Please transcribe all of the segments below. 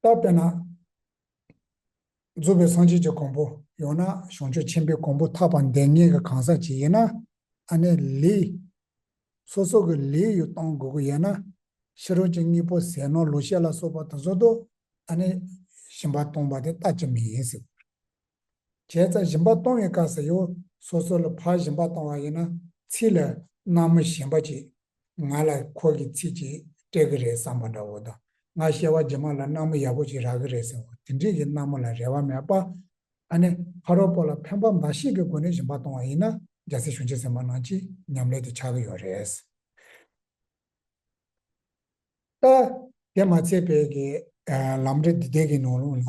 བཏབ་པས་ན། རྫོགས་པའི་སངས་རྒྱས་ཀྱི་གོང་བུ་ཡོང་ན་བྱང་ཆུབ་ཆེན་པོའི་གོང་བུ་ཐར་པ་འདས་ངེས་ཀྱི་གང་ཟག་ཅིག་ཡིན་ན། ཨ་ནེ་ལི། སོ་སོ་གི་ལི་ཡུལ་གཏོང་དགོས་ཀྱི་ཡོད་ན། ཕྱི་རོལ་གྱི་གཉིས་པོ་ཟས་ནོར་ལུག་ཤེད་ལ་སོགས་པ་དུ་ཟོ་དུ་ཨ་ནེ། ཞིམ་པ་གཏོང་བ་དེ་ལྟ་ཅི་མི་ཡིན་ཟེར། བྱས་ཙང་གཞན་པ་གཏོང་བའི་སྐབས་སུ་ཡོད་སོ་སོ་ལ་ཕར་གཞན་པ་གཏོང་བ་ཡིན་ན། ཚིག་ལ་སྣང་མི་ཞན་པ་ཅིག་ང་ལ་ཁོ་གི་ཚིག་ཅིག་སྤྲད་གི་རེད་བསམ་པ་འདྲ་བོ་དང་ང་བཤད་བ་རྗེས་མ་ལ་སྣང་མི་ཡག་པོ་ཅིག་རག་གི་རེད་ཟེར་བ་དེ་འདྲིས་ཀྱི་སྣང་མོ་ལ་རེ་བ་མེད་པ། ཨ་ནེ་ཧ་རོ་པོ་ལ་ཕན་པ་མ་ཤེས་ཀི་སྒོ་ནས་གཞན་པ་གཏོང་བ་ཡིན་ན་རྒྱ་སེ་གཞུང་ཆེ་ཟེར་མ་གནང་ཅི་ཉམས་ལེ་དེ་ཆག་གི་ཡོད་རེད། ལྟ། དེ་མ་ཚད་བལ་གི་ལམ་འབྲས་འདི་དེ་གི་ནང་ལུང་ལ།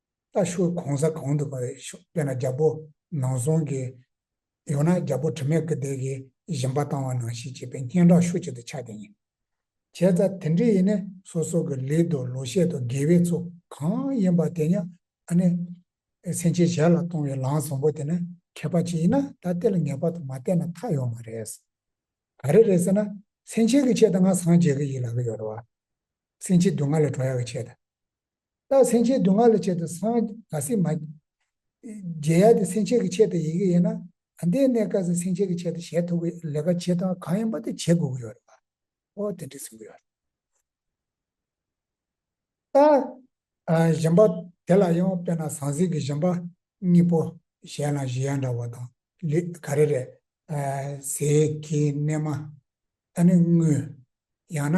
ལྟ་ཞོར་གོང་ས་གང་དུ་བ་རེད་ཤོག་དཔེ་ན་རྒྱ་པོ་ནང་བཟུང་གི། ཡང་ན་རྒྱ་པོ་དྲི་མེད་སྐུ་བདེ་གི་བཞིན་པ་བཏང་བ་ནང་ཞིག་བྱས་པའི་སྙན་གྲགས་ཤུགས་ཆེ་དུ་ཆགས་དེ་ཡིན། བྱས་ཙ་དེ་འདྲས་ཡིན་ནས་སོ་སོ་གི་ལུས་དང་ལོ་ཤས་དང་དགེ་བའི་ཚོ་གང་ཡིན་པ་དེ་ཉག་ཨ་ནེ་སེང་ཆེན་ཞལ་ལ་གཏོང་བའི་ལང་བཟང་པོ་དེ་ནི་མཁས་པ་ཅིག་ཡིན་ན་ད་ལྟེ་ལ་ངེས་པར་དུ་མ་བལྟས་ན་མཐའ་ཡོང་མ་རེད། ག་རེ་རེད་ཟེར་ན་སེང་ཆེན་གི་ཆེད་དུ་ང་སངས་རྒྱས་ཀི་ཡིད་ལ་གི་ཡོད་བ། སེང་ཆེན་སྡུག་བསྔལ་ལས་གྲོལ་ཡག་གི་ཆེད་དུ། རྟགས་སེམས་ཅན་སྡུག་བསྔལ་ལས་བྱེད་དུ་སངས་དགའ་སྲིད་མ། རྗེ་ཡབ་དེ་སེམས་ཅན་གྱི་ཆེད་དུ་ཡི་གེ་ཡིན། ད་ལྟའི་གནས་སྐབས་སུ་སེམས་ཅན་གྱི་ཆེད་དུ་བྱེད་ཐུབ་པའི་ལས་ཀ་ཇི་ལྟར་གང་ཡིན་པ་དེ་བྱེད་དགོས་ཀྱི་ཡོད་རེད་པ། ཨོ་དེ་འདྲས་གསུངས་ཀྱི་ཡོད། རྟགས། གཞན་པ། དེ་ལ་ཡང་དཔེར་ན་ཟང་ཟིང་གི་གཞན་པ། གཉིས་པོ། གཞན་ལ་གཞི་ཡང་འདྲ་བ་དང། ལུས། ག་རེ་རེད། ཟས། ཀྱི། གནས་མ། ད་ནི་དངོས། ཡང་ན།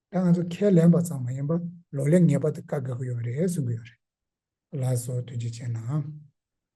ད་ང་ཚོ་ཁས་ལེན་པ་ཙམ་མ་ཡིན་པར་ལོ་ལེགས་ངེས་པར་དུ་བཀའ་བསྒོས་ཀྱི་ཡོད་རེད་གསུང་གི་ཡོད་རེད། ལགས་སོ་དོན་གཅིག་བྱས་ན།